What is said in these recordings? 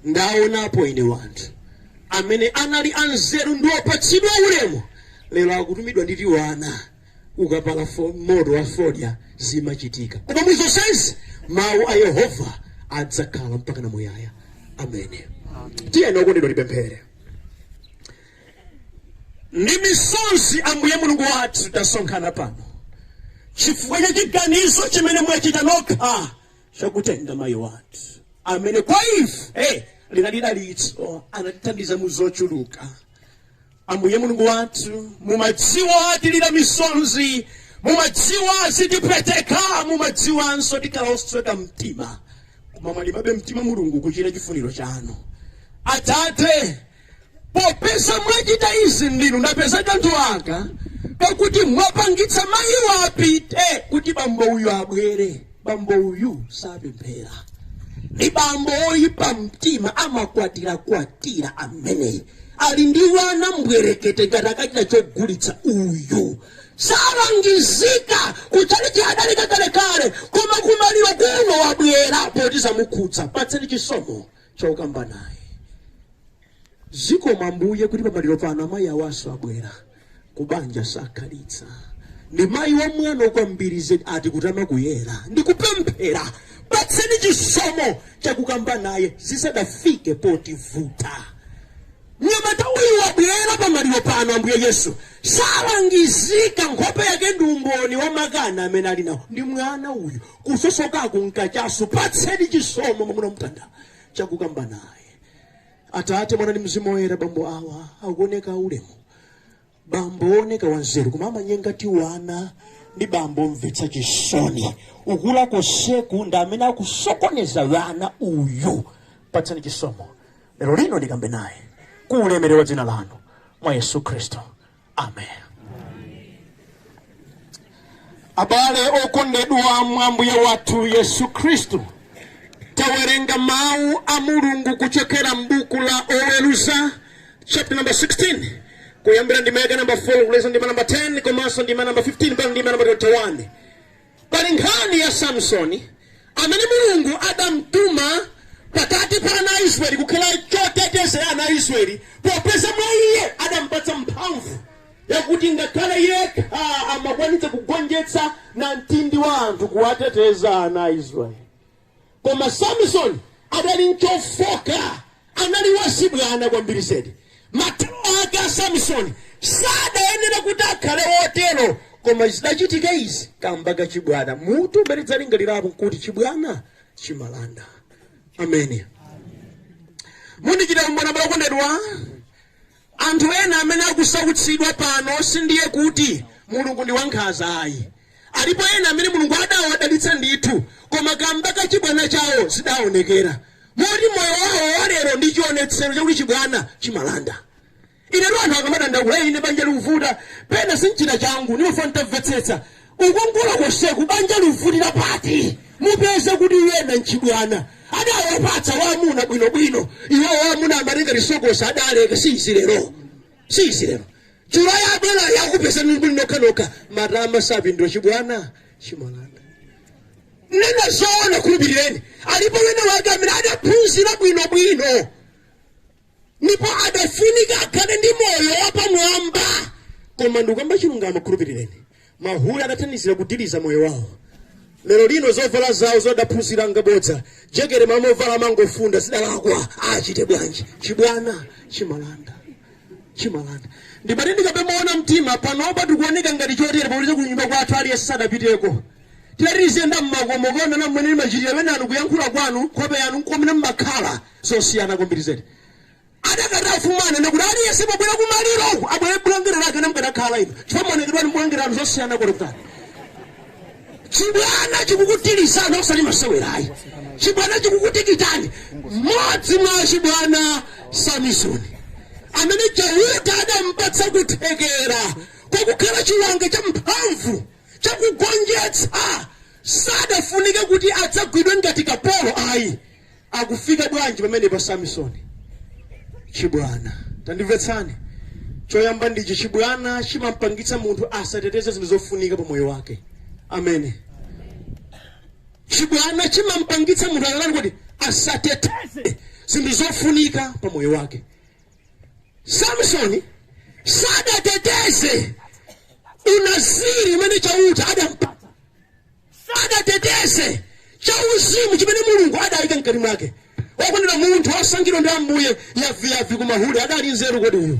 Ndaonapo ine wa anthu amene anali anzeru ndi opatsidwa ulemu lero akutumidwa ndi tiwana kukapala moto wa fodya zimachitika koma mu zonsezi mau a Yehova adzakhala mpakana muyaya amene tiyeni okondedwa tipemphere ndi misozi Ambuye Mulungu wathu tasonkhana pano chifukwa cha chiganizo chimene mwachita nokha chakutenga mayi wathu amene kwa ife linali dalitso anatithandiza mu zochuluka ambuye mulungu wathu mumadziwa tilira misozi mumadziwa zitipweteka mumadziwanso tikhala osweka mtima koma mwalimabe mtima mulungu kuchita chifuniro chanu atate popeza mwachita izi ndinu ndapeza kanthu aka pakuti mwapangitsa mayi awa apite kuti bambo uyu abwere bambo uyu sapemphera ndi bambo oyipa mtima amakwatira kwatira ameneyi ali ndi wana mbwerekete ngati akachita chogulitsa uyu salangizika kutchalitchi adaleka kakalekale koma kumaliro kuno wabwera poti zamukhudza patseni chisomo chokamba naye. Zikomo Ambuye kuti pamaliro pano amayi awanso abwera kubanja sakhalitsa ndi mayi wamwano kwambiri zedi ati kutama kuyera ndi kupemphera patseni chisomo chakukamba naye zisadafike potivuta mnyamata uyu wabwera pamaliro pano ambuye yesu salangizika nkhope yake ndi umboni wa makani amene ali nawo ndi mwana uyu kusosokaku n'kachasu patseni chisomo mwamuna mtanda chakukamba naye atate mwana ndi mzimu woyera bambo awa akuoneka ulemu bambo wooneka wanzeru koma amanyenga tiwana ndi bambo omvetsa chisoni ukula konseku ndi amene akusokoneza wana uyu patseni chisomo lero lino ndikambe naye ku ulemerero wa dzina lanu mwa yesu khristu amen abale okondedwa mwa ambuye wathu yesu khristu tawerenga mawu a mulungu kuchokera m'buku la oweruza chapter number 16 kuyambira ndima yake namba 4 kulekeza ndima namba 10 komanso ndima namba 15 mpaka ndima namba 21 Pali nkhani ya Samsoni amene Mulungu adamtuma pakati pa ana a Israeli kukhala choteteza ana a Israeli popeza mwa iye adampatsa mphamvu yakuti ngakhale yekha amakwanitsa kugonjetsa namtindi wa anthu kuwateteza ana a Israeli. Koma Samisoni adali nchofooka, anali wachibwana kwambiri zedi. Mathero ake a Samisoni sadayenera kuti akhale wotero, koma zidachitika izi kamba ka chibwana. Mutu umene tidzalingalirapo nkuti Chibwana Chimalanda. Ameni. Mundichitira umboni abale okondedwa. Anthu ena amene akusautsidwa pano sindiye kuti Mulungu ndi wankhanza ayi. Alipo ena amene Mulungu adawadalitsa ndithu koma kamba ka chibwana chawo sizidaonekera moti moyo wawo wa lero ndi chionetsero chakuti chibwana chimalanda. Inetu anthu akamadandaula, ine banja likuvuta, pena sindichita changu, ndimafuna nditamvetsetsa. Kukongola konseku banja livutira pati? Mupeze kuti ena nchibwana adawapatsa amuna bwino bwino iwowo amuna amati ngati sokosi adaleke si izi lero si izi lero Julaye yabwera yakupezani muli nokha nokha matama sapindula chibwana chimalanda nena zoona khulupirireni alipo ena wake amene adaphunzira bwino bwino ndipo adafunika akhale ndi moyo wapamwamba koma ndikamba chilungamo khulupirireni mahule adathandizira kudiliza moyo wawo lero lino zovala zawo zodaphunzira ngabodza jekete m'malo movala amangofunda zidalakwa achite bwanji chibwana chimalanda chimalanda ndimati ndikapenya mtima panopa tikuoneka ngati chotere paukuti kunyumba kwathu aliyense sadapiteko titati tiziyenda mmakomo kuona mmene mmachitira pena anu kuyankhula kwanu nkhope yanu nkomene mmakhala zosiyana kwambiri zedi. Adakati afumuwa anena kuti aliyense pobwera kumaliro uku abwere bulangete lake ne mukadakhala inu chifukwa maonekedwe anu ndi bulangete lanu zosiyana kutalitali. Chibwana chikukudilizani osati masewera ayi. Chibwana chikukutikitani. Mmodzi mwa achibwana Samisoni amene Chauta adampatsa kuthekera kwakukhala chiwanga champhamvu chakugonjetsa sadafunike kuti adzagwidwe ngati kapolo ayi. Akufika bwanji pamenepa Samisoni? Chibwana. Tandimvetsani. Choyamba ndi ichi, chibwana chimampangitsa munthu asateteze zinthu zofunika pa moyo wake. Ameni. Chibwana chimampangitsa munthu atani kodi asateteze zinthu zofunika pa moyo wake. Samisoni sadateteze unaziri umene Chauta adampatsa. sadateteze chauzimu chimene mulungu adaika mkati mwake okondedwa munthu wosankhidwa ndi ambuye yavi ku mahule adali nzeru kodi uyu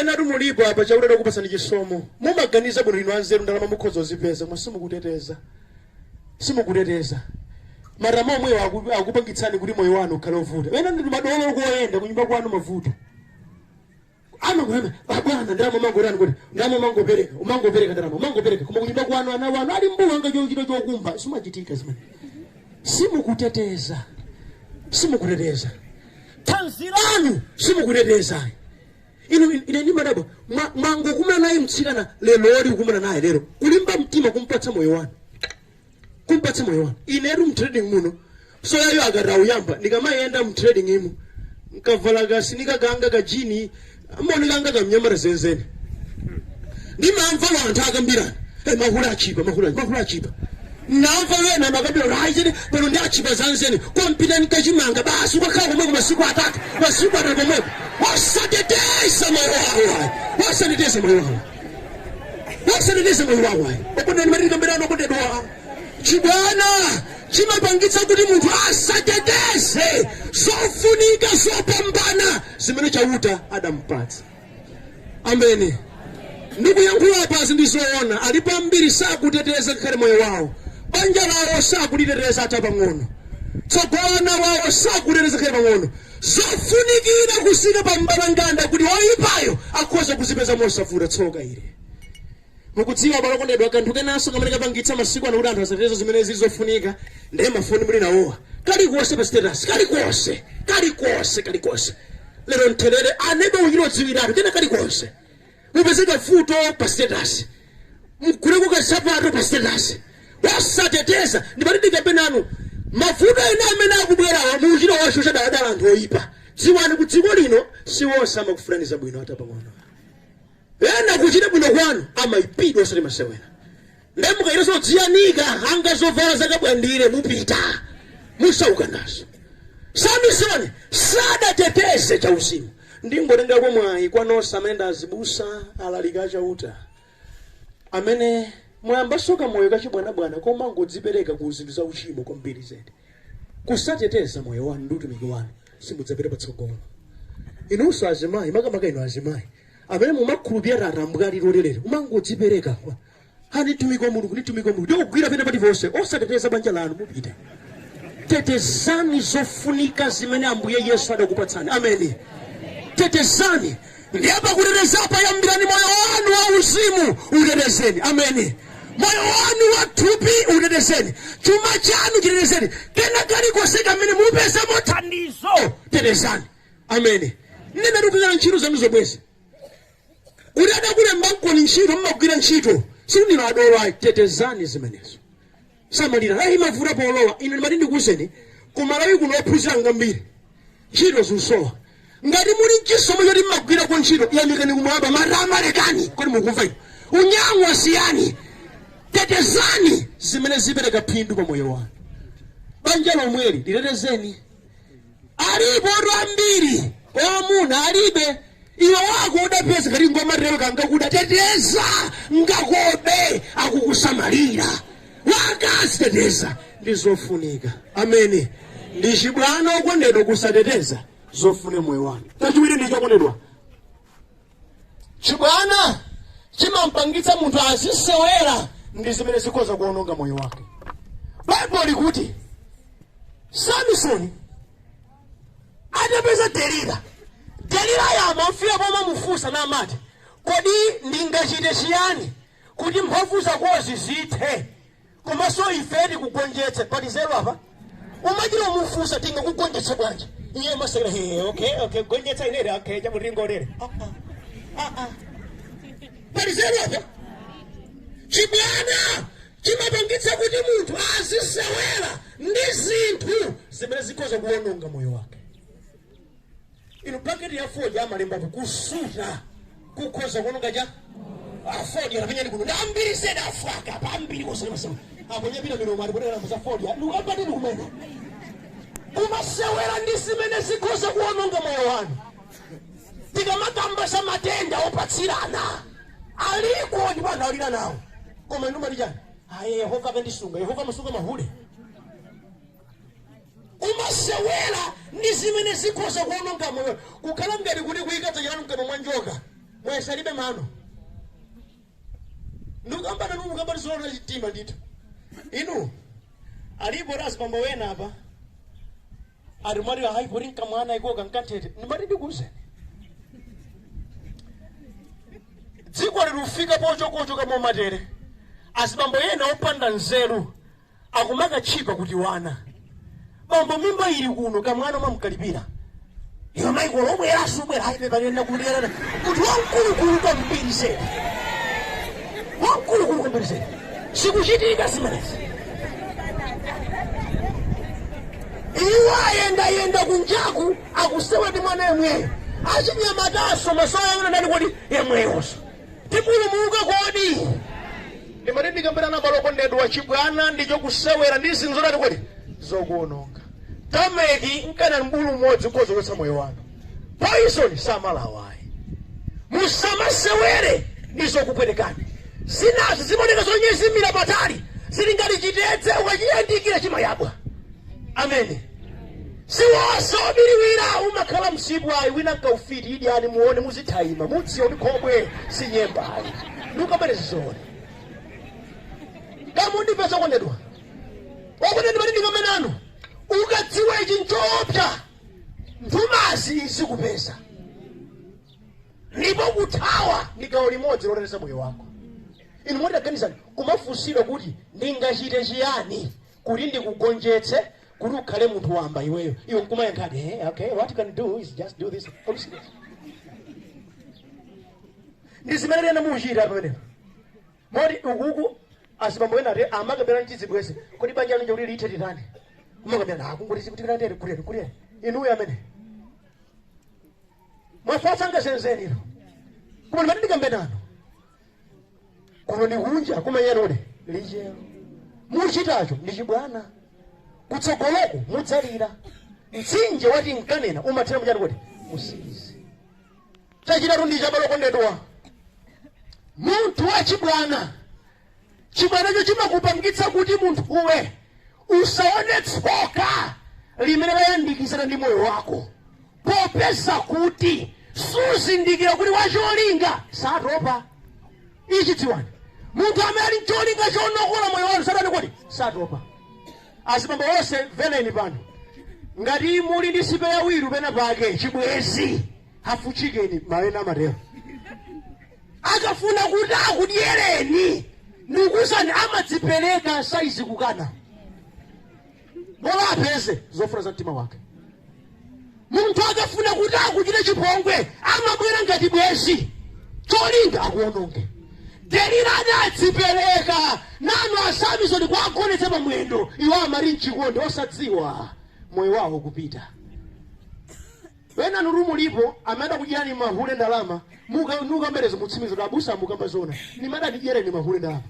enatu mulipo apa Chauta adakupatsani chisomo mumaganiza bwino inu anzeru ndalama mukhoza kuzipeza koma simukuteteza simukuteteza matama omwewo akupangitsani kuti moyo wanu ukhale ovuta ena ndi madolo koyenda kunyumba kwanu mavuto amakulana abwana ndalama umangotani kuti ndalama umangopereka umangopereka ndalama umangopereka koma kunyumba kwanu ana wanu ali mbuu angachite chokumba simachitika zimene simukuteteza simukuteteza thanzi lanu simukuteteza inu ine ndimadabwa mwangokumana naye mtsikana lero ori kukumana naye lero kulimba mtima kumpatsa moyo wanu kumpatsa moyo wanu inetu mtrading muno so yayo akati auyamba ndikamayenda mtrading umu nkavala kasinika kanga kajini amoni kanga kamnyamata zenzene ndimamva wanthu akambirana "Eh, mahula achipa mahula mahula achipa namva wena makabiro haizini pano ndi achipa zanzeni kompita ni kachimanga basi ukakhala komweko masiku atatu masiku atatu komweko osateteza moyo wawo osateteza moyo wawo osateteza moyo wawo ayi okonda ndimati tikambirane okondedwa chibwana chimapangitsa kuti munthu asateteze zofunika zopambana zimene chauta adampatsa ameni ndikuyankhula apazi ndi zoona alipo ambiri sakuteteza ngakhale moyo wawo banja lawo sakuliteteza ata pang'ono tsogolo la ana awo sakuteteza ngakhale pang'ono Zofunikira, kusika pa mbalanganda kuti woipayo akhoza kuzipeza mosavuta. Tsoka ili, mukudziwa abale okondedwa, kanthu kenanso kamene kapangitsa masiku ano kuti anthu asateteze zimene zili zofunika nde mafoni muli nawowa. Kalikonse pa status, kalikonse, kalikonse, kalikonse. Lero ntherere, aneba achite kudziwiratu kena kalikonse. Mupezeka foto pa status. Muguleko kansapato pa status. Osateteza. Ndimati ndikambe nanu. Mavuto ena amene akubwerawa mukuchita kuwashosha dala anthu oyipa. Dziwani ku dziko lino si onse amakufunirani zabwino ata pang'ono. Ena kuchita bwino kwanu amayipidwa osati masewera. Nde mukayiteso kudziyanika ngati zovala za kaphwandire mupita musauka nazo. Samisoni sadateteze cha uzimu. Ndingotengako mwayi kwa nose amene ndi azibusa, alaliki a Chauta amene mwayambaso kamoyo ka chibwanabwana komangodzipereka ku zinthu za uchimo kwambiri zedi. Kusateteza moyo wanu ndi utumiki wanu simudzapita patsogolo. Inuso azimayi makamaka inu azimayi amene mumakhulupirira atambwali lerolino kumangodzipereka kwa ani mtumiki wa mulungu ndi mtumiki wa mulungu nkukugwira pena paliponse osateteza banja lanu mupita tetezani zofunika zimene ambuye yesu adakupatsani ameni tetezani ndiye pakutetezapo yambirani moyo wanu wa uzimu utetezeni ameni moyo wanu wa thupi utetezeni chuma chanu chitetezeni kena kalikonse kamene mupeza mothandizo tetezani ameni nene ndikugwira ntchito zanu zomwezi kuti adakulembankoni ntchito mmagwira ntchito sindinu adolo ayi tetezani zimenezo samalira layi imavuta polowa ine ndimati ndikuwuzeni kumalawi kuno ophunzira ngambiri ntchito zikusowa ngati muli mchisomo choti mmagwirako ntchito yamikani kumwamba matama lekani kodi mukumva inu unyang'wa siyani tetezani zimene zipereka phindu pa moyo wanu banja lomweli litetezeni alipotu ambiri amuna alibe iwe wako udapeza kati ngomatero kangakuda teteza ngakobe akukusamalira akazi tetezani zofunika amen ndi chibwana okondedwa kusateteza zofunika moyo wanu chachiwiri ndicho okondedwa chibwana chimampangitsa munthu azisewera ndi zimene zikhoza kuononga moyo wake baibulo likuti samisoni adapeza delila delila amamfika pomamufunsa namati kodi ndingachite chiyani kuti mphamvu zakozi zithe komanso ife tikugonjetse pali nzeru apa kumachita kumufunsa tingakugonjetse bwanji iye amasekera he okay okay gonjetsa inere okay chamuringo lere pali nzeru apa chibwana chimapangitsa kuti munthu azisewera ndi zinthu zimene zikhoza kuwononga moyo wake inu paketi ya fodya amalembapo kusuta kukhoza kuononga cha afodya napenyani kuno ndambiri zedi afwaka pambiri kosemasema aponyapita milomo atipotera mbuza fodya ndikapati ndikumene kumasewera ndi zimene zikhoza kuononga moyo wanu tikamakamba za matenda opatsirana aliko ndipo anthu alira nawo koma inu mmati chani ayi yehova akandisunga yehova amasunga mahule kumasewera ndi zimene zikhoza kuononga moyo kukhala ngati kuti kuyika dzanja lanu mkamwa mwa njoka mwayesa alibe mano ndikukamba nanu mukambani zoona chitima ndithu inu alipo ati azibambo wena apa ati mwati hayi poti nkamwana ikoka nkanthete ndimati ndikuuzeni dziko lilufika pochokochoka momatere azibambo ena opanda nzeru akumakatchipa kuti wana bambo mimba ili kuno kamwana kumamkalipira iwe maiko lomwe yasu ubwera hayi pepani nakuliyana kuti wamkulukulu kwambiri zedi wamkulukulu kwambiri zedi sikuchitika zimenezi iwo ayendayenda kunjaku akusewa ndi mwana yemweyo achinyamatanso masoya yona ndani kodi yemweyonso tipulumuka kodi ndimati ndikambirana abale okondedwa chibwana ndicho kusewera ndi zinthu zotani kodi zokuononga tameki nkana mbulu mmodzi ukhoza kuchotsa moyo wanu poison samalawa ayi musamasewere ndi zokupwetekani zinazo zimaoneka zonyezimira patali zili ngati chitedze ukachiyandikira chimayabwa amen si wonse wobiriwira umakhala msipu ayi wina nkaufiti idyani muone muzithaima mudziwa kuti khobwe si nyemba ayi ndikubwereza zoone kamundipe zokondedwa okondedwa ndimati ndikambe nanu ukadziwa ichi nchoopsa nthumanzi zikupeza ndipo kuthawa ndi gawo limodzi loteteza moyo wako inu moti taganizani kumafunsidwa kuti ndingachite chiyani kuti ndikugonjetse kuti ukhale munthu wamba iweyo iwe nkumayankhadi eh, okay what you can do is just do this Are you serious? ndi zimene ena mukuchita pamenepo moti ukuku azibambo ena ati amakambirana ndi chibwenzi kodi banja lanu lija kuti lithe titani kumakambirana akungoti zikutikira ndere kuleni kuleni inuyo amene mwafatsa ngasenzeni ino koma ndimati ndikambe nanu kuno ndi kunja kumayanja kodi lichero muchitacho ndi chibwana kutsogoloku mudzalira mtsinje wa tinkanena umathera muchani kodi mu siizi chachitatu ndicho abale okondedwa munthu wachibwana chibwanacho chimakupangitsa kuti munthuwe Usaone tsoka limene layandikizana ndi moyo wako, popeza kuti suzindikira kuti wacholinga satopa. Ichi dziwani, munthu amene ali ncholinga chonokola moyo wanu satani kodi satopa. Azibambo onse mvereni pano, ngati muli ndi spare wheel pena pake chibwenzi half chicken mawena amatero akafuna kuti akudyereni ndikuuzani amadzipereka saizi kukana bola apeze zofuna za mtima wake munthu akafuna kuti akuchite chipongwe amabwera ngati bwenzi cholinga akuononge Delila anadzipereka nanu a Samisoni kuwagonetsa pa mwendo iwo amali mchikondi osadziwa moyo wawo kupita Enanutu mulipo amene adakudyerani mahule ndalama muka nukamba ilezo mutsimikiza kuti abusa mukamba zoona ndime adandidyera ine mahule ndalama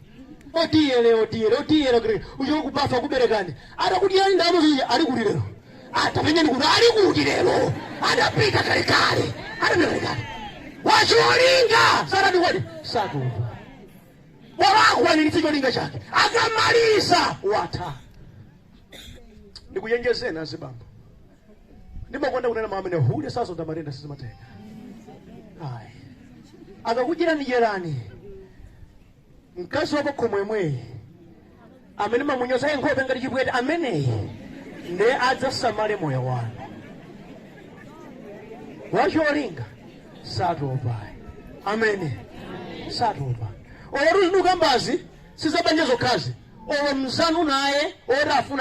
otiyele otiyele otiyele kuti uchoke ku bafa kuberekani atakudyerani ndalama zonse zija ali kuti lero tapenyani kuti ali kuti lero adapita kalekale adapita kalekale wacholinga satani kodi satopa bola akwaniritse cholinga chake akamaliza watha ndikuchenjezeni azibambo ndimakonda kunena mawu amene hule sazonda matenda sizimatenga ayi akakudyerani dyerani mkazi wapakhomo yemweyi amene mamunyozaye nkhope ngati chipwete ameneyi ndiye adzasamale moyo wanu wacholinga satopayi amene satopa olotu zikukambazi sizabanja zokhazi olo mzanu naye oti afuna